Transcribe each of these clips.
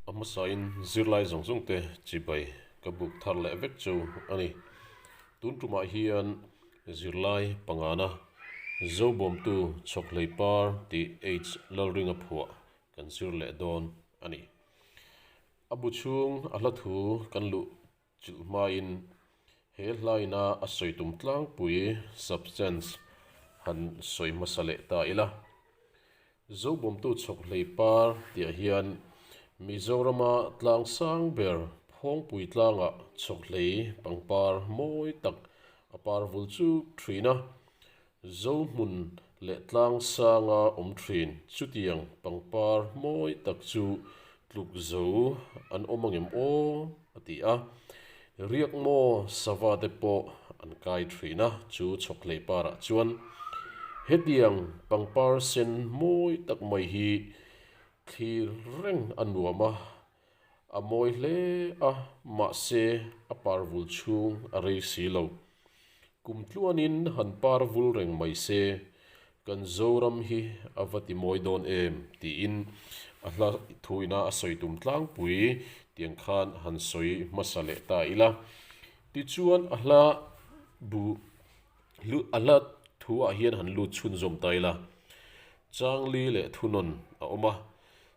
A hmasain zirlai zawng zawng te chibai ka buk thar leh vek chu a ni. Tun tumah hian zirlai pangana zobawmtu chhawk hlei par tih H. Lalringa phuah kan zir leh dawn a ni. A bu chhung a hla thu kan luh Chilh hmain he hlaina a sawi tum tlangpui substance han sawi hmasa leh ta ila. Zobawmtu chhawk hlei par tiah hian Mizorama tlang sang ber phawngpui tlanga chhawk hlei pangpar mawi tak a par vul chuk thin a, Zohmun leh tlang sanga awm thin. Chutiang pangpar mawi tak chu tluk zo an awm ang em aw a ti a. Riakmaw sava te pawh an kai thin a, chu chhawk hlei parah chuan hetiang pangpar sen mawi tak mai hi thlir reng a nuam a. A mawi hle a, mahse a parvul chhung a rei si lo. Kum tluanin han parvul reng mai se, kan Zoram hi a va ti mawi dawn em? tiin a hla thu ina a sawi tum tlangpui tiang khan han sawi hmasa leh ta ila. Tichuan a hla bu lut a hla thuah hian han lut chhunzawm ta ila. Changli leh thunawn a awm a.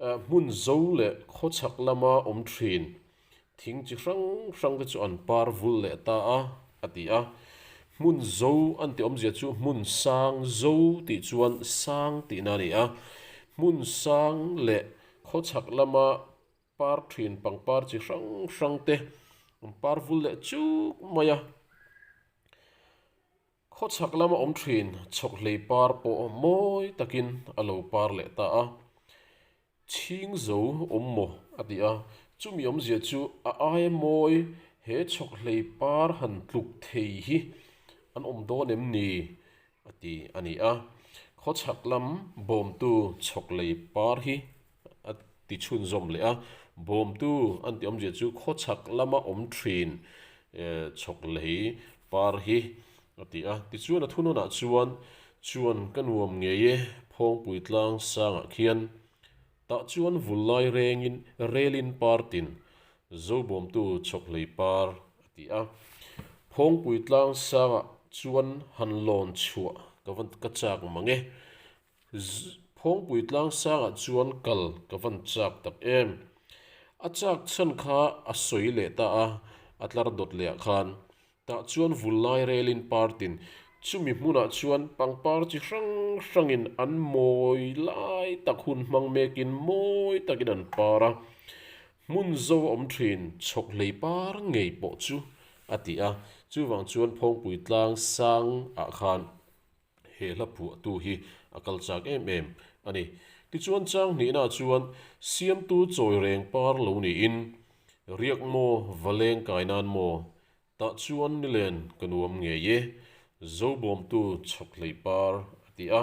Hmun zo leh khawchhak lama awm thin thing chi hrang hrang te chu an par vul leh ta a, a ti a. Hmun zo a ni tih awmzia chu hmun sang zo tih chuan sang tihna a ni a. Hmun sang leh khawchhak lama par thin pangpar chi hrang hrang te an par vul leh chuk mai a. Khawchhak lama awm thin chhawk hlei par pawh mawi takin a lo par leh ta a, chhing zo awm maw a ti a, chumi awmzia chu a ai a mawi he chhawk hlei par han tluk thei hi an awm dawn em ni? a ti a ni a, khawchhak lam bawmtu chhawk lei par hi. a ti chhun zawm leh a. Bawmtu an ti awmzia chu khawchhak lama awm thin chhawk lei par hi a ti a. Tichuan a thunawnah chuan, Chuan ka nuam ngei e, phawngpui tlang sangah khian. Tah chuan vul lai rengin relin par tin, Zo bawmtu chhawk lei par, a ti a. Phawngpui tlang sangah chuan han lawn chhuah ka va ka chak mang e. Phawngpui tlang sangah chuan kal ka van chak tak em. A chak chhan kha a sawi leh ta a, a tlar dawt leh ah khan. Tah chuan vul lai relin party-n chumi hmunah chuan pangpar chi hrang hrangin an mawi lai tak hun hmang mekin mawi takin an par a. Hmun zo awm thin chhawk hlei par ngei pawh chu a ti a. Chuvang chuan Phawngpui tlang sangah khan he hla phuahtu hi a kal chak em em a ni. Tichuan chang hnihnaah chuan siamtu chawi reng par lo niin, Riak maw, va leng kai nan maw? tah chuan ni len ka nuam ngei e, Zobawmtu chhawk hleih par, a ti a.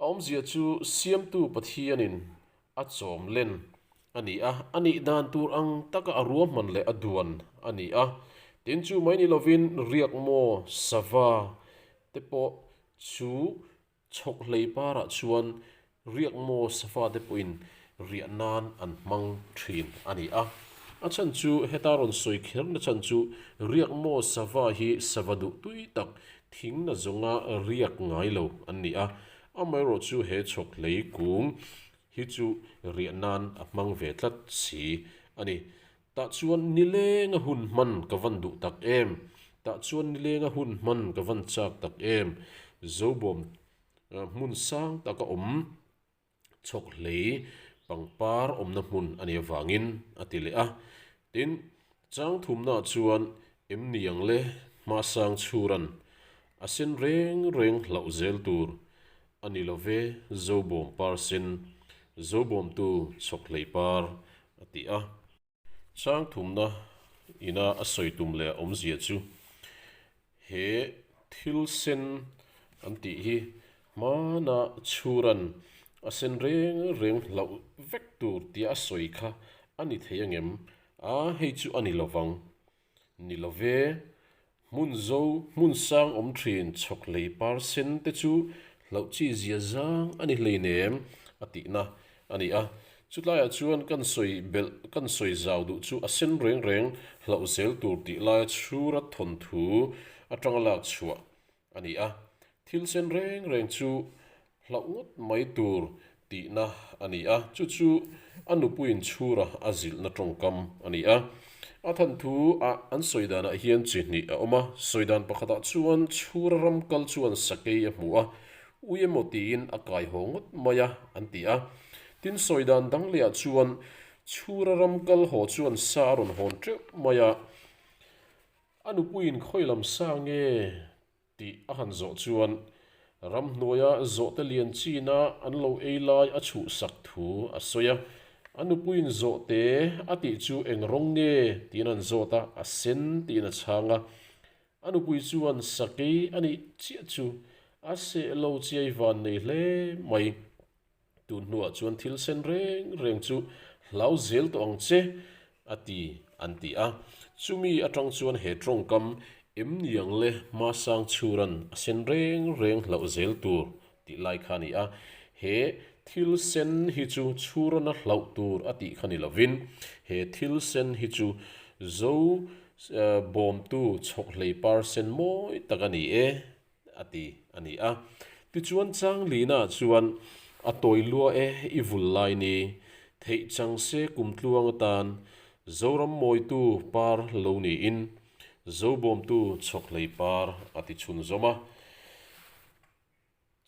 A awmzia chu Siamtu Pathianin a chawm len a ni a, a nih dan tur ang taka a ruahman leh a duan a ni a. Tin, chu mai ni lovin Riakmaw sava te pawh chu chhawk hleipar ah chuan Riakmaw sava te pawhin riah nan an hmang thin a ni a. A chhan chu heta rawn sawi kher na chhan chu riak maw sava hi sava duh tui tak thing na zawnga riak ngai lo an ni a, amaherawh chu he chhawk hlei kung hi chu riah nan a hmang ve tlat si a ni. Tah chuan ni lenga hun hman ka van duh tak em, tah chuan ni lenga hun hman ka van chak tak em, zobawm hmun sang taka awm chhawk hlei pangpar awmna hmun a ni avangin a ti leh a. Tin, chang thumnaah chuan em niang le hmahsang chhuran a sen reng reng hlauh zel tur a ni lo ve zobawm par sin, zobawmtu chhawk hlei par a ti a. Changthumna ina a sawi tum leh a awmzia chu he thil sen an tih hi hmana chhuran a sen reng reng hlauh vek tur tia sawi kha a ni thei angem? A, hei chu a ni lovang. Ni lo ve. Hmun zo, hmun sang awm thin chhawk lei par sen te chu hlauh chi zia zang a ni hlein em? a tihna a ni a. Chutlaiah chuan kan sawi belh, kan sawi zau duh chu a sen reng reng hlauh zel tur tih laia chhura thawnthu atanga lak chhuah A ni a, thil sen reng reng chu hlauh ngawt mai tur tihna a ni a, chu chu a nupuiin chhura a zilhna tawngkam a ni a. A than thu a an sawi danah hian chi hnih a awm a, sawi dan pakhatah chuan chhura ram kal chuan sakei a hmu a, ui emaw tiin a kai haw ngawt mai a, an ti a. Tin, sawi dan dang leh ah chuan chhura ram kal haw chuan sa a rawn hawn teuh mai a, A nupuiin khawi lam sa nge tih a han zawh chuan ramhnuaia zawhte lian china an lo ei lai a chhuhsak thu a sawi a. A nupuiin zawhte a tih chu eng rawng nge tiin an zawt a, a sen tiin a chhang a. A nupui chuan sakei a nih chiah chu a seh lo chiai van nei hle mai. Tu hnuah chuan thil sen reng reng chu hlau zel tawh ang che a ti an ti a. Chumi atang chuan he tawngkam em niang le Masang Churan a sen reng reng hlauh zel tur tih lai kha a ni a. He thil sen hi chu Churan a hlauh tur a tih kha ni lovin, he thil sen hi chu Zo bawmtu chhawk hleipar sen mawi tak a ni e A ti a ni a. Tichuan Changlina chuan, A tawi lua e, i vul lai ni. Theih chang se kum tluang atan Zoram mawitu par lo niin Zobawmtu chawkhlei par a ti chhunzawm a.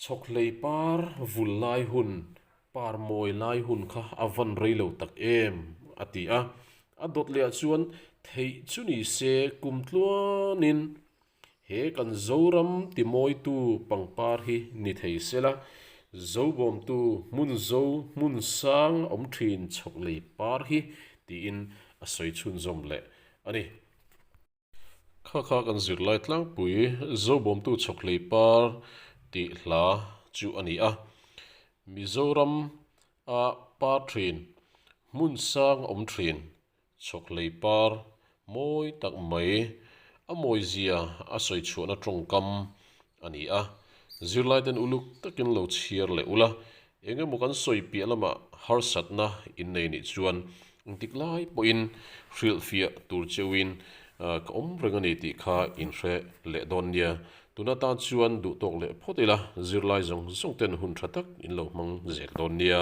Chawkhlei par vul lai hun, par mawi lai hun kha a van rei lo tak em, a ti a. A dawt leh ah chuan, Theih chu ni se kum tluanin. He kan Zoram timawitu pangpar hi ni thei sela, Zobawmtu hmun zo hmun sang awm thin chhawk lei par hi tiin a sawi chhunzawm leh a ni. Kha kha kan zirlai tlangpui Zobawmtu chhawk lei par tih hla chu a ni a, Mizoram a par thin hmun sang awm thin Chawklei par mawi tak mai a mawizia a sawi chhuahna tawngkam a ni a, zirlaiten uluk takin lo chhiar leh ula, eng emaw kan sawi piah lamah harsatna in nei nih chuan engtik lai pawhin hrilhfiah tur cheuhin ka awm reng a ni tih kha in hre leh dawn nia, tun atan chuan duh tawk leh phawt ila zirlai zawng zawng ten hun tha tak in lo hmang zel dawn nia.